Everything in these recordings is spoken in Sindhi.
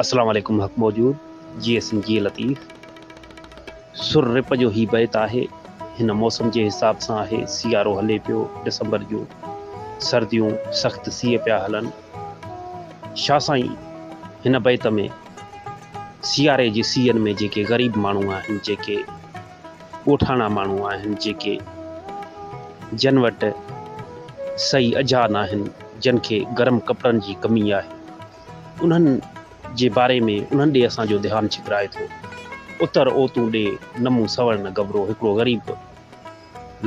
السلام عليڪم حق موجود جي ايس ايم جي لطيف سر رپ جو هي بيت آهي هن موسم جي حساب سان آهي سيارو هلي پيو ڊسمبر جو سرديون سخت سيء پيا هلن شاھ سائين هن بيت ۾ سياري جي سيئن ۾ جيڪي غريب ماڻهو آهن جيڪي ڳوٺاڻا ماڻهو آهن جيڪي جن وٽ سئي اجها ناهن جن کي گرم ڪپڙن جي ڪمي آهي انهن جي باري ۾ انهن ڏي اسان جو ڌيان ڇڪرائي ٿو اتر اوتون ڏي نمون سورن گبرو هڪڙو غريب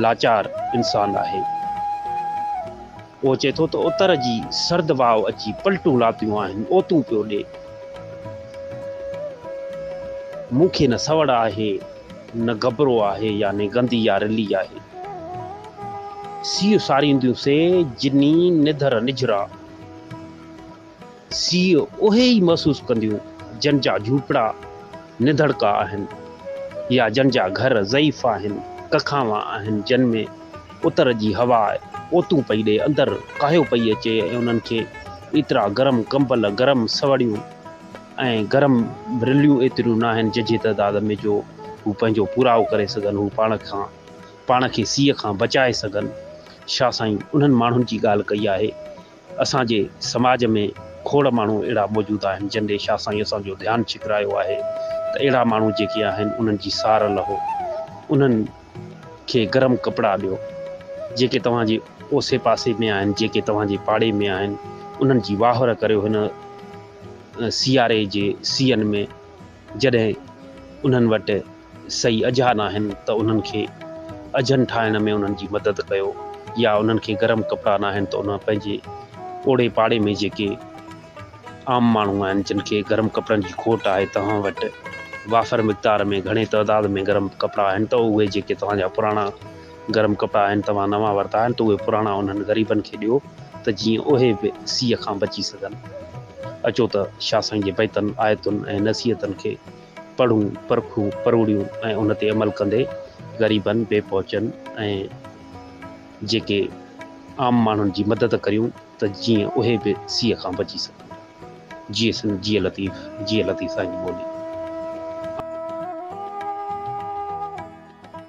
لاچار انسان آهي. اهو چئي ٿو ته اتر جي سرد واء اچي پلٽون لاتيون آهن، اوتون پيو ڏي. مون کي نه سوڙ آهي، نه گبرو آهي، يعني گندي يا رلي آهي. سيء سارينديون سي، جني، نڌر نجھرا. سي اهي ئي محسوس ڪنديون جن جا جهوپڙا نڌڙڪا آهن يا جن جا گهر ضعيف آهن، ڪکاوا آهن جن ۾ اتر جي هوا اوتون پئي ڏئي اندر ڪاهيو پئي اچي ۽ انهن کي ايترا گرم ڪمبل، گرم سوڙيون ۽ گرم رليون ايتريون ناهن ججهي تعداد ۾ جو هو پنهنجو پورائو ڪري سگهن هو پاڻ کان پاڻ کي سيء کان بچائي سگهن شاهه سائين انهن ماڻهن جي ڳالهه ڪئي آهي. اسان جي سماج ۾ کوڙ ماڻهو اهڙا موجود آهن جن ڏي شاهه سائين اسان جو ڌيان ڇڪرايو آهي ته اهڙا ماڻهو جيڪي آهن انهن جي سار لهو انهن کي گرم ڪپڙا ڏيو جيڪي توهان جي اوسي پاسي ۾ آهن جيڪي توهان جي پاڙي ۾ آهن انهن جي واهر ڪريو هن سياري جي سيئن ۾ جڏهن انهن وٽ صحيح اجها ناهن ته انهن کي اجهن ٺاهڻ ۾ انهن جي مدد ڪيو يا انهن کي گرم ڪپڙا ناهن ته انهن پنهنجي اوڙي پاڙي ۾ جيڪي عام ماڻهو آهن جن کي گرم ڪپڙن جي کوٽ آهي توهان وٽ وافر مقدار ۾ گهڻي تعداد ۾ گرم ڪپڙا آهن ته اهي جيڪي توهان جا پراڻا گرم ڪپڙا آهن توهان نوان ورتا آهن ته اهي پراڻا انهن غريبن کي ڏيو ته جيئن اهي به سيء کان بچي سگهن. اچو ته شاهه سائين جي بيتن، آيتن ۽ نصيحتن کي پڙهون، پرکون، پروڙيون ۽ ان تي عمل ڪندي غريبن، بي پهچن ۽ جيڪي عام ماڻهن جي مدد ڪريون ته جيئن اهي به سيء کان بچي سگهن. جيئي سنڌ جيئي لطيف جيئي لطيف سائين جي ٻولي.